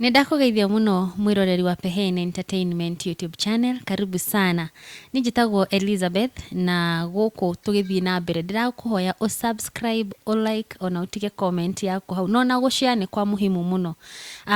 Nĩndakũgeithia mũno mwĩroreri wa Peheen Entertainment YouTube Channel, karibu sana. Niĩ njĩtagwo Elizabeth na gũkũ tũgĩthiĩ na mbere ndĩrakũhoya ũ subscribe, ũ like ona ũtige comment yaku hau. Na ona gũ share nĩ kwa mũhimu mũno.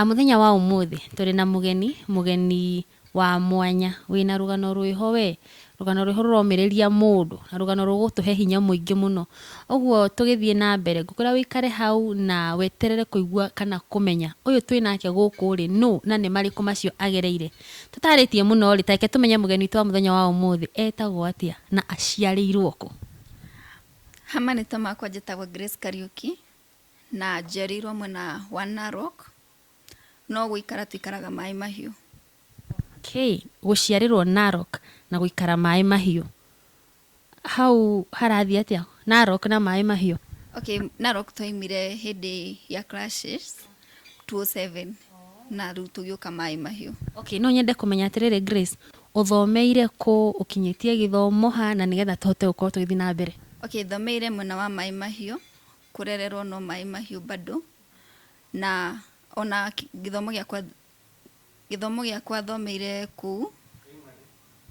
Mũthenya wa ũmũthĩ tũrĩ na mũgeni, mũgeni Wa mwanya. Wĩ na rũgano rwĩho we. Rũgano rwĩho rũromĩrĩria mũndũ. Na rũgano rũgũtũhe hinya mũingĩ mũno. Ũguo tũgĩthiĩ na mbere, ngũkwĩra ũikare hau na weterere kũigua kana kũmenya ũyũ twĩ nake gũkũ rĩ, nũ na nĩ marĩkũ macio agereire. Tũtaarĩtie mũno rĩ, ta reke tũmenye mũgeni witũ wa mũthenya wa ũmũthĩ etagwo atĩa na aciarĩirwo kũ. Ha marĩtwa makwa njĩtagwo Grace Kariuki na njiarĩirwo mwena wa Narok. no gũikara tũikaraga Maĩ Mahiũ. Okay, gũciarĩrwo Narok na gũikara Maĩ Mahiũ, hau harathiĩ atĩa? Narok na Maĩ Mahiũ? Okay, Narok twaimire hĩndĩ ya clashes 2007 na rĩu tũgĩũka Maĩ Mahiũ. Okay, no nyende kũmenya atĩrĩrĩ Grace, ũthomeire kũ, ũkinyĩtie gĩthomo ha, na nĩgetha tũhote gũkorwo tũgĩthiĩ na mbere. Okay, thomeire mwena wa Maĩ Mahiũ, kũrererwo no Maĩ Mahiũ bado, Na ona gĩthomo gĩakwa gĩthomo gĩakwa thomeire kũu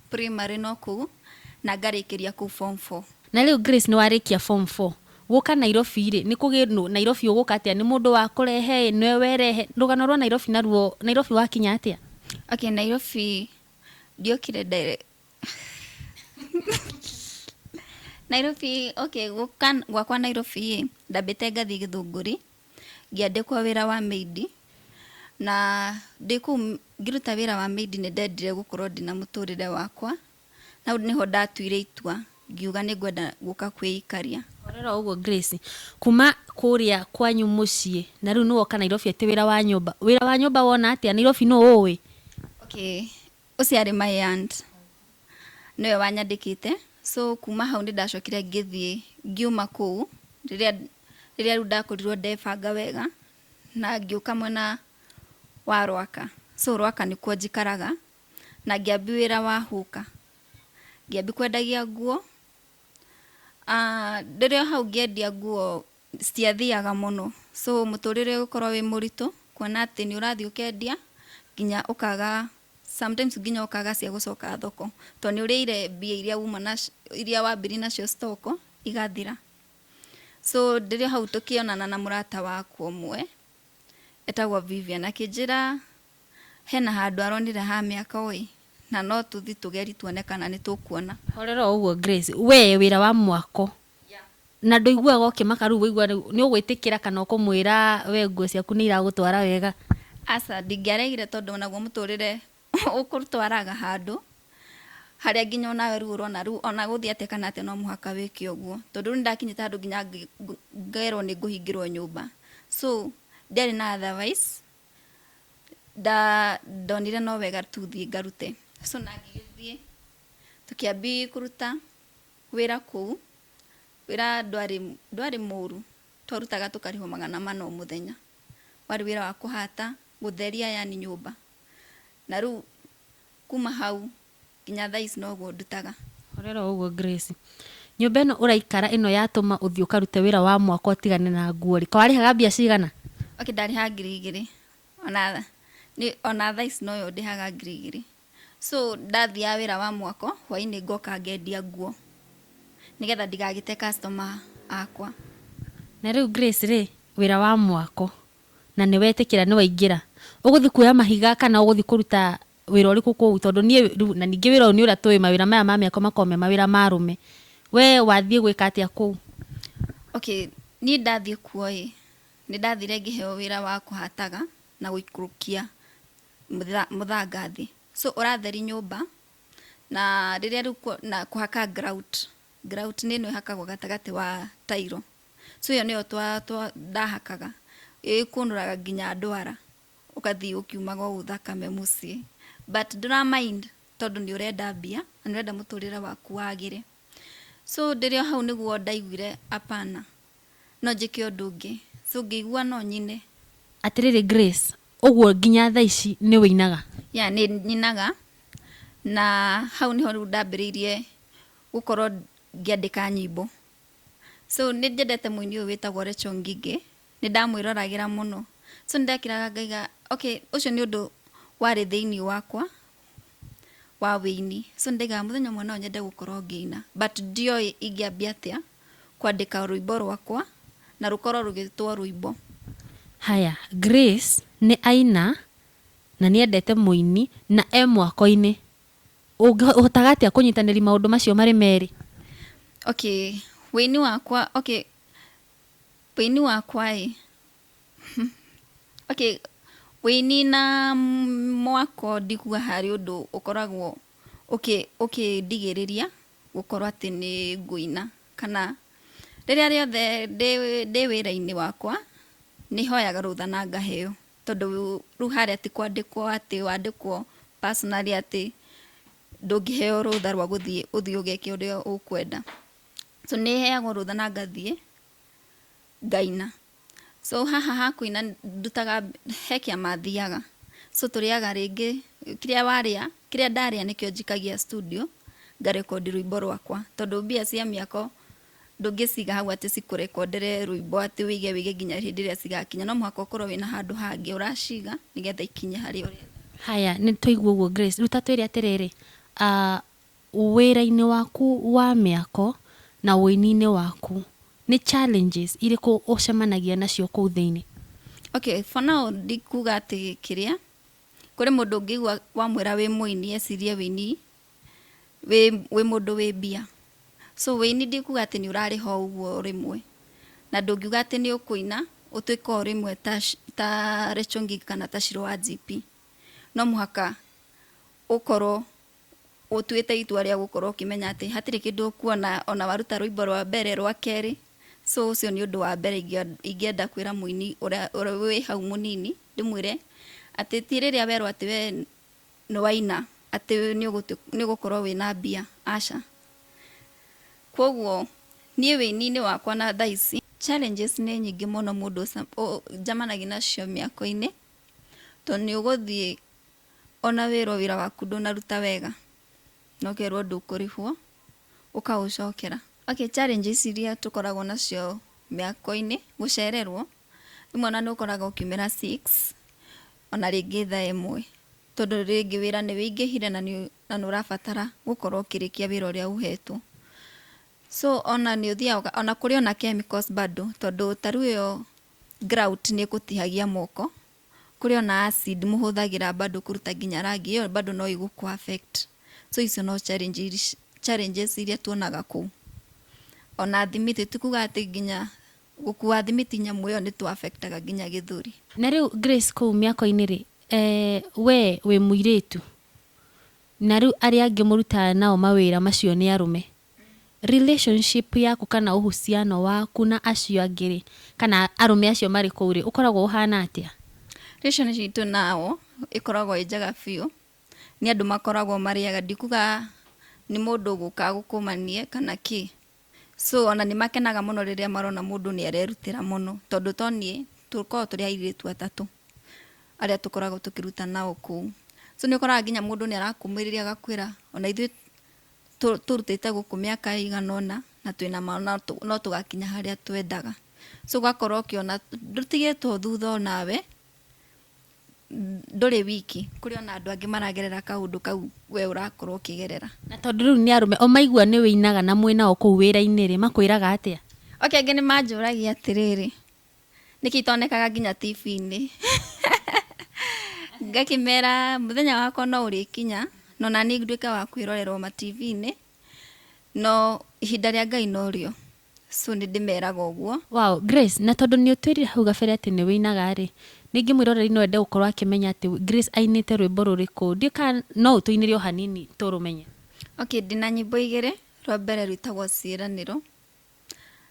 primary no kũu na ngarĩkĩria kũu form four. Na rĩu Grace nĩ warĩkia form four, gũka Nairobi rĩ, nĩ kũgĩ nũ, Nairobi ũgũka atĩa, nĩ mũndũ wakũrehe ĩ, nĩwe werehe, rũgano rwa Nairobi naruo, Nairobi wakinya atĩa? Okay Nairobi ndiokire Nairobi okay gũka gwakwa Nairobi ĩ, ndambĩte ngathiĩ Gĩthũngũri, ngĩandĩkwo wĩra wa maid na ndĩ kũu ngĩruta wĩra wa maid nĩ ndendire gũkorwo ndĩna mũtũrĩre wakwa, na hau nĩho ndatuire itua ngiuga nĩ ngwenda gũka kwĩikaria. Horera ũguo Grace, kuma kũrĩa kwanyu mũciĩ na rĩu nĩ woka Nairobi atĩ wĩra wa nyũmba, wĩra wa nyũmba wona atĩa? Nairobi nũ ũũĩ? Okay, Ũcio arĩ my aunt. Nĩwe wanyandĩkĩte. So kuma hau nĩ ndacokire ngĩthiĩ ngiuma kũu rĩrĩa rĩrĩa rĩu ndakorirwo ndebanga wega na ngĩũka mwena wa Rwaka. So Rwaka nĩkuo njikaraga na ngĩambia wĩra wa hũka. Ngĩambia kwendagia nguo. Ndĩrĩ o hau ngĩendia nguo citiathiaga mũno so mũtũrĩre ũgũkorwo wĩ mũritũ kuona atĩ nĩ ũrathiĩ ũkendia nginya ũkaga sometimes nginya ũkaga cia gũcoka thoko tondũ nĩ ũrĩire mbia iria uma nacio iria wambirie nacio stock igathira. So ndĩrĩ o hau tũkĩonana na mũrata wakwa ũmwe etagwo Vivian akĩnjĩra hena handũ aronire ha mĩako ĩ na no tũthiĩ tũgerie tuone kana nĩ tũkuona. Horera o ũguo Grace, we wĩra wa mwako Na ndũiguaga ũkĩmaka rĩu waigua rĩu nĩ ũgwĩtĩkĩra kana ũkũmwĩra we nguo ciaku nĩ iragũtwara wega? Aca, ndingĩaregire tondũ o naguo mũtũrĩre ũkũtwaraga handũ harĩa nginya o nawe rĩu ũrona rĩu o na gũthiĩ atĩa kana atĩa no mũhaka wĩke ũguo. Tondũ rĩu nĩ ndakinyĩte handũ nginya ngerwo nĩ ngũhingĩrwo nyũmba. So ndiarĩ na otherwise, ndonire no wega tũthiĩ ngarute. So na ngĩgĩthiĩ, tũkĩambia kũruta. Wĩra kũu, wĩra ndwarĩ ndwarĩ mũru, twarutaga tũkarĩhwo magana mana o mũthenya. Warĩ wĩra wa kũhata, gũtheria yaani nyũmba. Na rĩu kuma hau nginya thaa ici noguo ndutaga. Horera o ũguo Grace. Nyũmba ĩno ũraikara ĩno yatũma ũthiĩ ũkarute wĩra wa mwako ũtigane na nguo-rĩ, kaĩ warĩhaga mbia cigana? Okay ndarĩhaga ngiri igĩrĩ, ona nĩ ona thaa ici noyo ndĩhaga ngiri igĩrĩ. So ndathiaga wĩra wa mwako, hwainĩ ngoka ngendia nguo nĩgetha ndigagĩte customer akwa. Na rĩu Grace rĩ, wĩra wa mwako na nĩ wetĩkĩra nĩ waingĩra, ũgũthiĩ kuoya mahiga kana ũgũthiĩ kũruta wĩra ũrĩkũ kũu? Tondũ niĩ rĩu na ningĩ wĩra ũyũ nĩ ũrĩa tũĩ mawĩra maya ma mĩako makoragwo me mawĩra ma arũme. We wathiĩ gwĩka atĩa kũu? Okay, niĩ ndathiĩ kuo ĩ, nĩ ndathire ngĩheo wĩra wa kũhataga na gũikũrũkia mũthanga thĩ so ũratheri nyũmba na rĩrĩa rĩu na kũhaka grout grout nĩ ĩno ĩhakagwo gatagatĩ wa tairo so ĩyo nĩyo twa twa ndahakaga ĩkũnũraga nginya ndwara ũgathiĩ ũkiumaga ũũ thakame mũciĩ but ndũra mind tondũ nĩ ũrenda mbia na nĩ ũrenda mũtũrĩre waku wagĩre so ndĩrĩ o hau nĩguo ndaiguire apana. No njĩke ũndũ ũngĩ. So ngĩigua no nyine. Atĩrĩrĩ Grace, ũguo nginya thaa ici nĩ ũinaga? Yeah, nĩ nyinaga. Na hau nĩho rĩu ndambĩrĩirie gũkorwo ngĩandĩka nyĩmbo. So nĩ nyendete mũini ũyũ wĩtagwo Recho Ngigĩ, nĩ ndamwĩroragĩra mũno. So nĩ ndekĩraga ngaiga, okay, ũcio nĩ ũndũ warĩ thĩinĩ wakwa. wa wĩini. So nĩndaigaga mũthenya ũmwe no nyende gũkorwo ngĩina but ndioĩ ingĩambia atĩa kwandĩka rwĩmbo rwakwa na rũkorwo rũgĩtwo rwĩmbo. Haya, Grace nĩ aina na nĩ endete mũini na e mwako-inĩ. Ũngĩhotaga atĩa kũnyitanĩri maũndũ macio marĩ merĩ? Okay, wĩini wakwa, okay, wĩini wakwa ĩ, Okay, wĩnina mwako ndigua harĩ ũndũ ũkoragwo ũkĩndigĩrĩria gũkorwo atĩ nĩ ngũina. Kana rĩrĩa rĩothe ndĩ wĩra-inĩ wakwa, nĩ hoyaga rũtha na ngaheo. Tondũ rĩu harĩa ti kwandĩkwo atĩ wandĩkwo personally atĩ ndũngĩheo rũtha rwa gũthiĩ ũthiĩ ũgeke ũrĩa ũkwenda. So nĩ heagwo rũtha na ngathiĩ ngaina. So haha ha kũina ndutaga, he kĩama thiaga, so tũrĩaga rĩngĩ, kĩrĩa warĩa, kĩrĩa ndarĩa nĩkĩo njikagia studio, ngarekondi rwĩmbo rwakwa, tondũ mbia cia mĩako ndũngĩciga hau atĩ cikũrekondere rwĩmbo atĩ wĩige wĩige nginya hĩndĩ ĩrĩa cigakinya, no mũhaka ũkorwo wĩna handũ hangĩ ũraciga nĩgetha ikinye harĩa ũrenda. Haya, nĩtwaigua ũguo Grace, rĩu ta twĩre atĩrĩrĩ, Wĩra-inĩ waku wa mĩako na ũini-inĩ waku, nĩ challenges irĩkũ ũcemanagia nacio kũu thĩinĩ? Okay, for now ndikuga atĩ kĩrĩa, kũrĩ mũndũ ũngĩigua wamwĩra wĩ mũini ecirie ũini wĩ wĩ mũndũ wĩ mbia. So ũini ndikuga atĩ nĩ ũrarĩha o ũguo o rĩmwe, na ndũngiuga atĩ nĩ ũkũina ũtuĩke o rĩmwe ta ta Rachel Ngig kana ta Shirũ wa GP. No mũhaka ũkorwo ũtuĩte itua rĩa gũkorwo ũkĩmenya atĩ hatirĩ kĩndũ ũkuona ona waruta rwĩmbo rwa mbere, rwa kerĩ, so ũcio nĩ ũndũ wa mbere ingĩenda kwĩra mũini ũrĩa wĩ hau mũnini, ndĩmwĩre atĩ ti rĩrĩa werwo atĩ we nĩ waina atĩ nĩ ũgũkorwo wĩna mbia, aca. Koguo niĩ wĩini-inĩ wakwa na thaa ici, challenges nĩ nyingĩ mũno mũndũ njemanagia nacio mĩako-inĩ, tondũ nĩ ũgũthiĩ Ona wĩrwo wĩra waku ndũnaruta wega na ũkerwo ndũkũrĩhwo ũkaũcokera. Okay, challenges iria tũkoragwo nacio mĩako-inĩ, gũcererwo, rĩmwe ona nĩ ũkoraga ũkiumĩra six ona rĩngĩ thaa ĩmwe tondũ rĩngĩ wĩra nĩ wĩingĩhire na nĩ ũrabatara gũkorwo ũkĩrĩkia wĩra ũrĩa ũhetwo. So ona nĩ ũthiaga, ona kũrĩ ona chemicals bado tondũ ta rĩu ĩyo grout nĩ ĩgũtihagia moko Kũrĩ ona acid mũhũthagĩra bado kũruta nginya rangi, ĩyo bado no ĩgũkũ affect. So icio no challenges challenges iria tuonaga kũu. Ona thimiti, ti kuga atĩ nginya gũkua thimiti nyamũ ĩyo nĩ tũ affect aga nginya gĩthũri. Na rĩu Grace kũu mĩako-inĩ rĩ, wee wĩ mũirĩtu, na rĩu arĩa angĩ mũrutaga nao mawĩra macio nĩ arũme, relationship yaku kana ũhusiano waku na acio angĩ rĩ, kana arũme acio marĩ kũu rĩ, ũkoragwo ũhana atĩa? Relationship itũ nao ĩkoragwo ĩ njega biũ, nĩ andũ makoragwo marĩ ega, ndikuga nĩ mũndũ ũgũkaga gũkũmania kana kĩ, so ona nĩ makenaga mũno rĩrĩa marona mũndũ nĩ arerutĩra mũno, tondũ to niĩ, tũkoragwo tũrĩ airĩtu atatũ arĩa tũkoragwo tũkĩruta nao kũu, so nĩ ũkoraga nginya mũndũ nĩ arakũmĩrĩria agakwĩra ona ithuĩ tũrutĩte gũkũ mĩaka ĩigana ũna na twĩna ma no tũgakinya harĩa twendaga so ũgakorwo ũkĩona ndũtigĩtwo thutha onawe ndũrĩ wiki kũrĩ ona andũ angĩ maragerera kaũndũ kau we ũrakorwo ũkĩgerera na tondũ rĩu nĩ arũme o maigua nĩ wĩinaga na mwĩnao kũu wĩra-inĩ rĩ makwĩraga atĩa oke angĩ nĩ manjũragia atĩrĩrĩ nĩkĩ itonekaga nginya tibi-inĩ? Ngakĩmera mũthenya wakwa no ũrĩkinya, na ona niĩ nduĩke wa kwĩrorera o matibi-inĩ, no ihinda rĩa Ngai no rĩo. So nĩ ndĩmeraga ũguo. Wow, Grace, na tondũ nĩ ũtwĩrire hau gabere atĩ nĩ wĩinaga rĩ, rĩngĩ mwĩroreri no ende gũkorwo akĩmenya atĩ Grace ainĩte rwĩmbo rũrĩkũ. Ndiũĩ kana no ũtũinĩre o hanini tũrũmenye. Okay, ndĩna nyĩmbo igĩrĩ, rwa mbere rwĩtagwo Ciĩranĩro.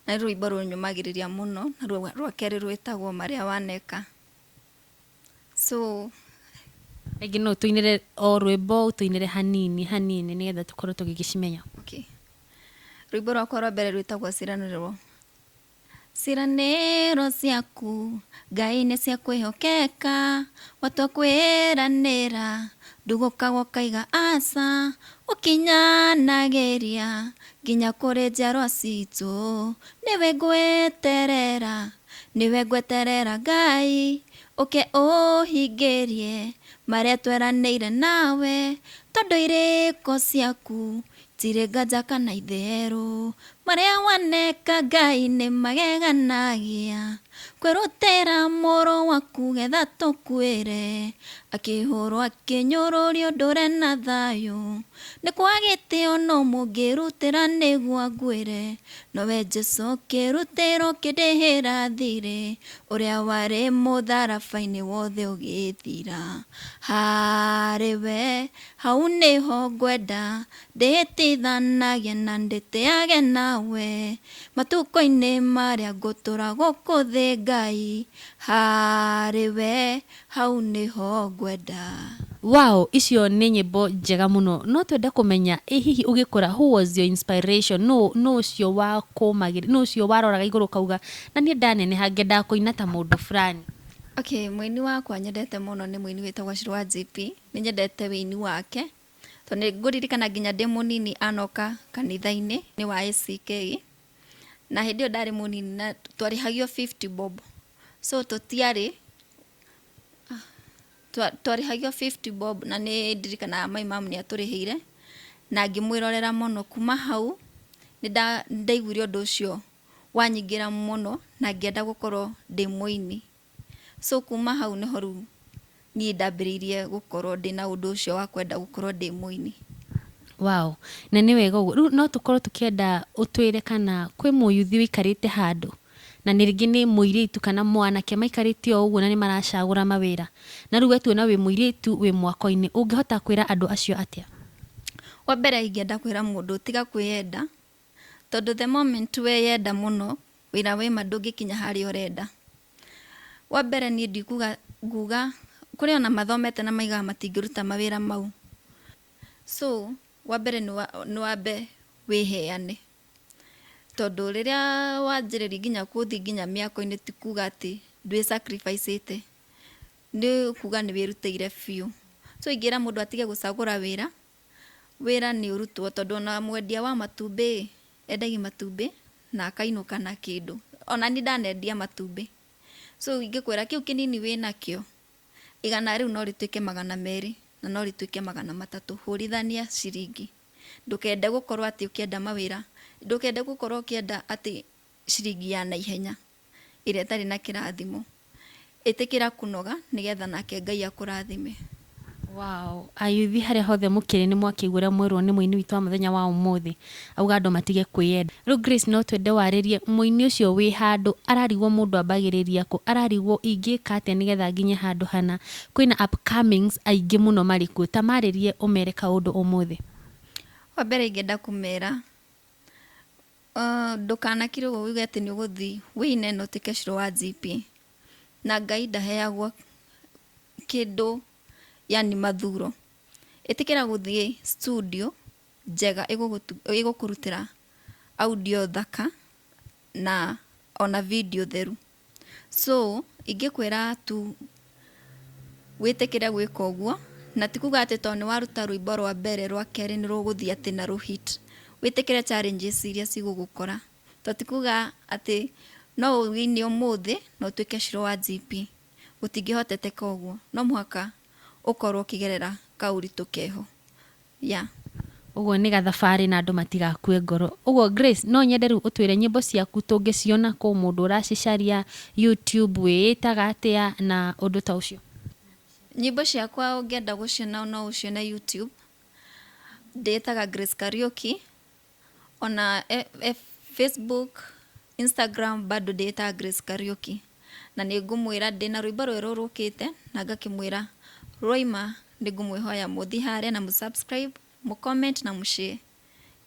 Na nĩ rwĩmbo rũnyũmagĩrĩria mũno, na rwa- rwa kerĩ rwĩtagwo marĩa waneka. So, Rĩngĩ no ũtũinĩre o rwĩmbo ũtũinĩre hanini hanini nĩgetha tũkorwo tũgĩgĩcimenya. okay. Rwĩmbo rwakwa rwa mbere rwĩtagwo ciranĩrwo. Ciranĩro ciaku Ngai nĩ cia kwĩhokeka, watua kwĩranĩra ndũgũkaga ũkaiga aca, ũkinyanagĩria Nginya kũrĩ njiarwa citũ. Nĩwe ngweterera, nĩwe ngweterera Ngai, ũke ũhingĩrie marĩa tweranĩire nawe, tondũ irĩko ciaku tirĩ nganja kana itherũ, marĩa waneka Ngai nĩ mageganagia. Kwĩrutĩra mũrũ waku getha tũkuĩre, Akĩhũrwo akĩnyũrũrio ndũre na thayũ, Nĩ kwa gĩtĩo no mũngĩrutĩra nĩgua nguĩre, Nowe Jesu ũkĩrutĩra ũkĩndĩhĩra thirĩ, Ũrĩa warĩ mũtharabainĩ wothe ũgĩthira, Harĩ we hau nĩho ngwenda, Ndĩĩtithanagie na ndĩtĩage nawe. Matukũ-inĩ marĩa ngũtũra gũkũ thĩ Ngai, harĩ we hau nĩho ngwenda. Wow icio nĩ nyĩmbo njega mũno no twende kũmenya ĩ hihi ũgĩkũra who was your inspiration nũũ nũũ ũcio wakũmagĩrĩria nũũ ũcio waroraga igũrũ ũkauga na niĩ ndaneneha ngendaga kũina ta mũndũ fulani. Okay mũini wakwa nyendete mũno nĩ mũini wĩtagwo Shirũ wa JP, nĩnyendete wĩini wake Tondũ nĩ ngũririkana nginya ndĩ mũnini anoka kanitha-inĩ nĩ wa ACK, na hĩndĩ ĩyo ndarĩ mũnini na twarĩhagio fifty bob. So tũtiarĩ, twarĩhagio fifty bob na nĩ ndirikanaga my mum nĩ atũrĩhĩire, na ngĩmwĩrorera mũno. Kuuma hau nĩ ndaiguire ũndũ ũcio wanyingĩra mũno na ngĩenda gũkorwo ndĩ mũini. So kuma hau nĩho rĩu niĩ ndambĩrĩirie gũkorwo ndĩna ũndũ ũcio wa kwenda gũkorwo ndĩ mũini. Wow, na nĩ wega ũguo. Rĩu no tũkorwo tũkĩenda ũtwĩre kana kwĩ mũyuthi ũikarĩte handũ, na nĩ rĩngĩ nĩ mũirĩtu kana mwanake maikarĩte o ũguo na nĩ maracagũra mawĩra, na rĩu we tuona wĩ mũirĩtu wĩ mwako-inĩ, ũngĩhota kwĩra andũ acio atĩa? Wa mbere ingĩenda kwĩra mũndũ tiga kwĩyenda. Tondũ the moment we yenda mũno wĩra wĩ ma ndũngĩkinya harĩa ũrenda. Wa mbere niĩ ndikuga nguga kũrĩ ona mathomete na maigaga matingĩruta mawĩra mau. So wa mbere nĩ wambe wĩheane. Tondũ rĩrĩa wanjĩrĩria nginya gũthiĩ nginya mĩako-inĩ ti kuga atĩ ndwĩ sacrifice ĩte. Nĩ kuga nĩ wĩrutĩire biũ. So ingĩra mũndũ atige gũcagũra wĩra. wĩra nĩ ũrutwo tondũ ona mwendia wa matumbĩ ĩ, endagia matumbĩ na akainũka na kĩndũ. Ona niĩ ndanendia matumbĩ. So ingĩkwĩra kĩu kĩnini wĩnakĩo, igana rĩu no rĩtuĩke magana merĩ, na no rĩtuĩke magana matatũ. Hũrithania ciringi. Ndũkende gũkorwo atĩ ũkĩenda mawĩra, ndũkende gũkorwo ũkĩenda atĩ ciringi ya naihenya. ĩrĩa ĩtarĩ na kĩrathimo. Ĩtĩkĩra kũnoga nĩgetha nake Ngai akũrathime. Wow. Ayuthi harĩa hothe mũkĩrĩ nĩ mwakĩigua ũrĩa mwerwo nĩ mũini witũ wa mũthenya wa ũmũthĩ. Auga andũ matige kwĩyenda. Rĩu Grace no twende warĩrie mũini ũcio wĩ handũ ararigwo mũndũ ambagĩrĩria kũ, ararigwo ingĩka atĩa nĩgetha nginye handũ hana. Kwĩna upcomings aingĩ mũno marĩ kuo. Ta marĩrie ũmere kaũndũ ũmũthĩ. Wa mbere ingĩenda kũmera Uh, ndũkanakirwo uge atĩ nĩ ũgũthi wĩine na ũtuĩke ciro wa GP na Ngai ndaheagwo kĩndũ yani mathuro ĩtĩkĩra gũthiĩ studio njega ĩgũgũtu- ĩgũkũrutĩra audio thaka na ona video theru So ingĩkwĩra tu wĩtĩkĩre gwĩka ũguo, na ti kuga atĩ tondũ nĩ waruta rwĩmbo rwa mbere rwa kerĩ nĩ rũgũthiĩ atĩ na rũ hit. Wĩtĩkĩre challenges iria cigũgũkora. Tondũ ti kuga atĩ no ũ win ũmũthĩ na ũtuĩke shiro wa GP. Gũtingĩhoteteka ũguo. No mũhaka ũkorwo ũkĩgerera kaũritũ keho. Yeah. Ũguo nĩ gathabarĩ na andũ matigakue ngoro. Ũguo Grace, no nyende rĩu ũtwĩre nyĩmbo ciaku tũngĩciona kũ, mũndũ ũracicaria, YouTube, wĩĩtaga atĩa na ũndũ ta ũcio? Nyĩmbo ciakwa ũngĩenda gũciona no ũcione YouTube, ndĩĩtaga Grace Kariuki. Ona Facebook, Instagram bado ndĩĩtaga Grace Kariuki. Na nĩ ngũmwĩra ndĩna rwĩmbo rwerũ rũkĩte na ngakĩmwĩra rwaima nĩ ngũmwĩhoya mũthi harĩa na mũ subscribe, mũ comment na mũ share.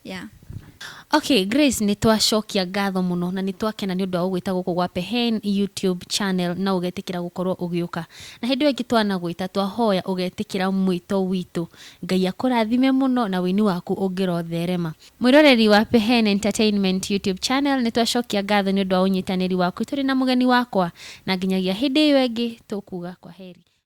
Yeah. Okay, Grace nĩ twacokia ngatho mũno na nĩ twakena nĩ ũndũ wa gũgwĩta gũkũ gwa Pehen YouTube channel na ũgetĩkĩra gũkorwo ũgĩũka. Na hĩndĩ ĩyo ĩngĩ twanagwĩta twahoya ũgetĩkĩra mwĩto witũ Ngai akũrathime mũno na ũini waku ũngĩrotherema. Mwĩroreri wa Pehene Entertainment YouTube Channel, nĩ twacokia ngatho nĩ ũndũ wa ũnyitanĩri waku tũrĩ na mũgeni wakwa. Na nginyagia hĩndĩ ĩyo ĩngĩ, tũkuuga kwaheri.